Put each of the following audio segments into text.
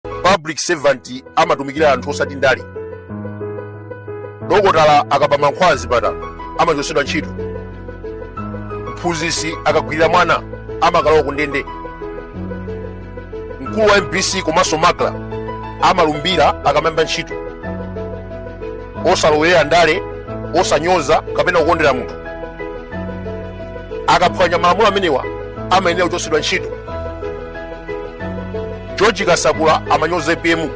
public servant amatumikira anthu osati ndale dokotala akaba mankhwala zipatala amachotsedwa ntchito mphunzitsi akagwirira mwana amakalowa ku ndende mkulu wa mbc komanso macra amalumbira akamayamba ntchito osalowerera ndale osanyoza kapena kukondera munthu akaphwanya malamulo amenewa amayenera kuchotsedwa ntchito george kasakula amanyoza apm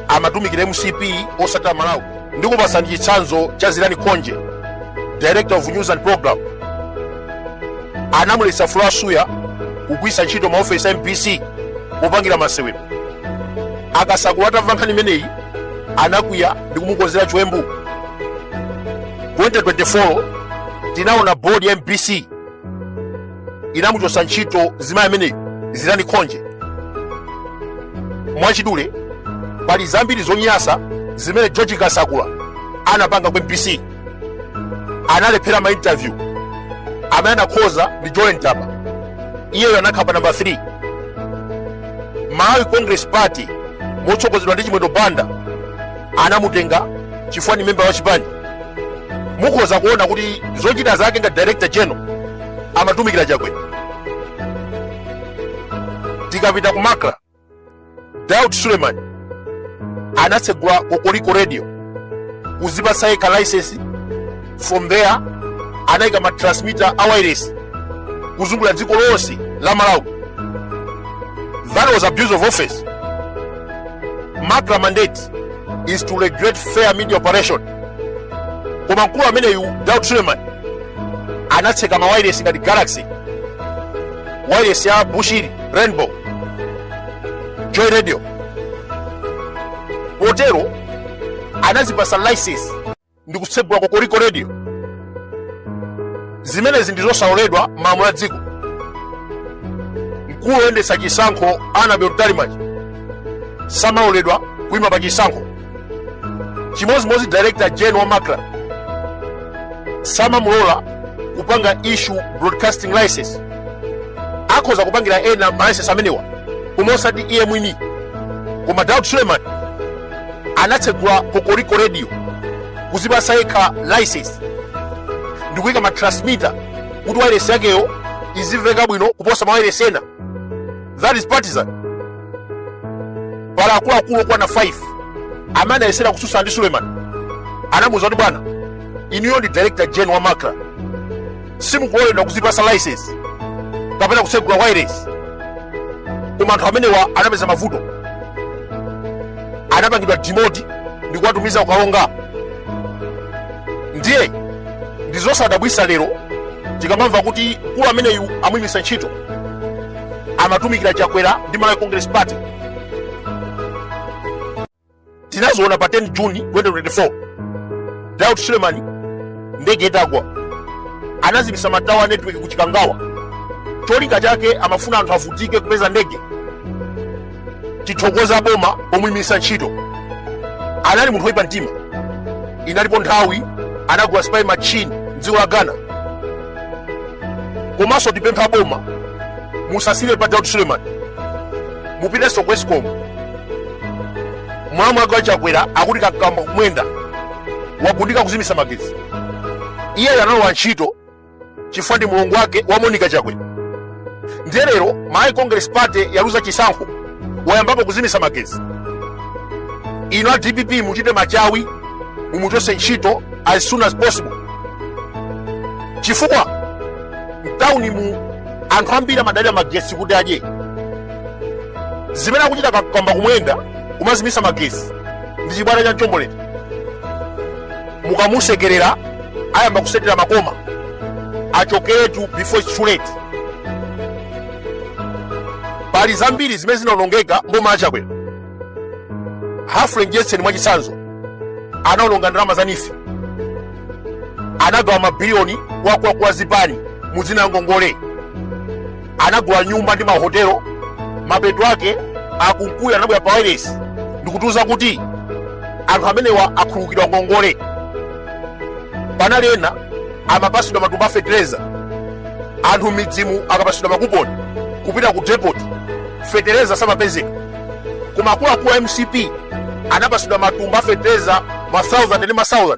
amatumikira mcp osati amalawi ndikupasani chitsanzo cha zilani khonje director of news and programs anamulesa flora suya kugwisa ntchito maofesi a mbc kupangira masewero akasakula atamva nkhani imeneyi anakwiya ndikumukonzera chiwembu 2024 tinaona board ya mbc inamuchotsa ntchito zimayi ameneyi zilani khonje mwachidule pali zambiri zonyasa zimene george kasakula anapanga ku mbc analephera ma interview amene anakhoza ndi jolly ntaba iyeyo anakhala pa namba 3 malawi congress party motsogozedwa ndi chimwendo banda anamutenga chifukwa ni memba wa chipani mukhoza kuona kuti zochita zake ngati director general amatumikira chakwera tikapita ku macra daud suleiman anatsegula kokoriko radio kuzipasa yekha license from there anaika ma transmitter a wireless kuzungulira dziko lonse la malawi that was abuse of office macra mandate is to regulate fair media operation koma mkulu ameneyu daud suleiman anatseka ma wireless ngati galaxy wireless ya bushiri rainbow joy radio potero anazipasa license ndi kutsegula kokoriko radio zimenezi ndi zosaloledwa mmalamulo a dziko mkulu woyendetsa chisankho annabel mtalimanja samaloledwa kuima pa chisankho chimodzimodzi director general wa macra samamulola kupanga issue broadcasting license akhoza kupangira ena ma license amenewa koma osati iye mwini koma daud suleiman anatsegula kokoriko radio kuzipasa yekha license ndikuyika ma transmitter kuti wairesi yakeyo izimveka bwino kuposa mawairesi ena that is partisan pali akuluakulu okwana 5 amene anayesera kususa ndi suleiman anamuuza kuti bwana inuyo ndi director gen wa macra simukuloledwa kuzipasa license kapena kutsegula wireless koma anthu amenewa anapeza mavuto anapangidwa dimoti ndi kuwatumiza ku Karonga ndiye ndi zosadabwisa lero tikamamva kuti mkulu ameneyu amuyimisa ntchito amatumikira chakwera ndi malawi congress party tinaziona pa 10 juni 2024 daud sulemani ndege itagwa anazimisa matawa a network ku chikangawa cholinga chake amafuna anthu avutike kupeza ndege tithokoza boma pomuyimisa ntchito anali munthu woyipa mtima inalinso nthawi anagula spy machine mdziko la ghana komanso tipempha boma musasire pa daud suleman mupitenso ku escom mwana wachakwera akuti kamkwamba kumwenda wagundika kuzimisa magetsi iyeyo analowa ntchito chifukwa ndi mulongo wake wa monica chakwera ndiye lero malawi congress party yaluza chisankho wayambapo kuzimisa magetsi inu a dpp muchite machawi mumuchose ntchito as soon as possible chifukwa mtauni mu anthu ambiri amadalira magetsi kuti adye zimene akuchita kamkwamba kumwenda kumazimisa magesi ndi chibwana cha mchombolende mukamusekerera ayamba kusetera makoma achokeretu before it's too late pali zambiri zimene zinaonongeka mboma la chakwera humphrey mdyetseni mwachitsanzo anaononga ndalama za neef anagawa mabiliyoni kwa akuluakulu a zipani mu dzina la ngongole anagula nyumba ndi mahotelo mapeto ake akunkuyu anabwera pa wailesi ndikutiuza kuti anthu amenewa akhululukidwa ngongole panali ena amapasidwa matumba a fetereza anthu mmidzimu akapasidwa makuponi kupita ku depot fetereza samapezeka koma akuluakulu a mcp anapasidwa matumba a fetereza ma 1000 ndi ma 1000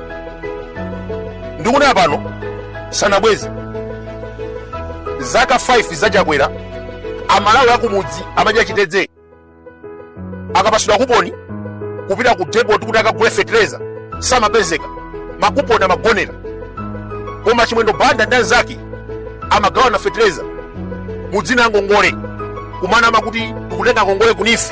ndikunena pano sanabweze zaka 5 za chakwera amalawi akumudzi amadya chitedze akapasidwa kuponi kupita ku depot kuti akagule fetereza samapezeka makuponi amagonera koma chimwendo banda ndi anzake amagawana fetereza mudzina la ngongole kumanama kuti tikutenga ngongole ku neef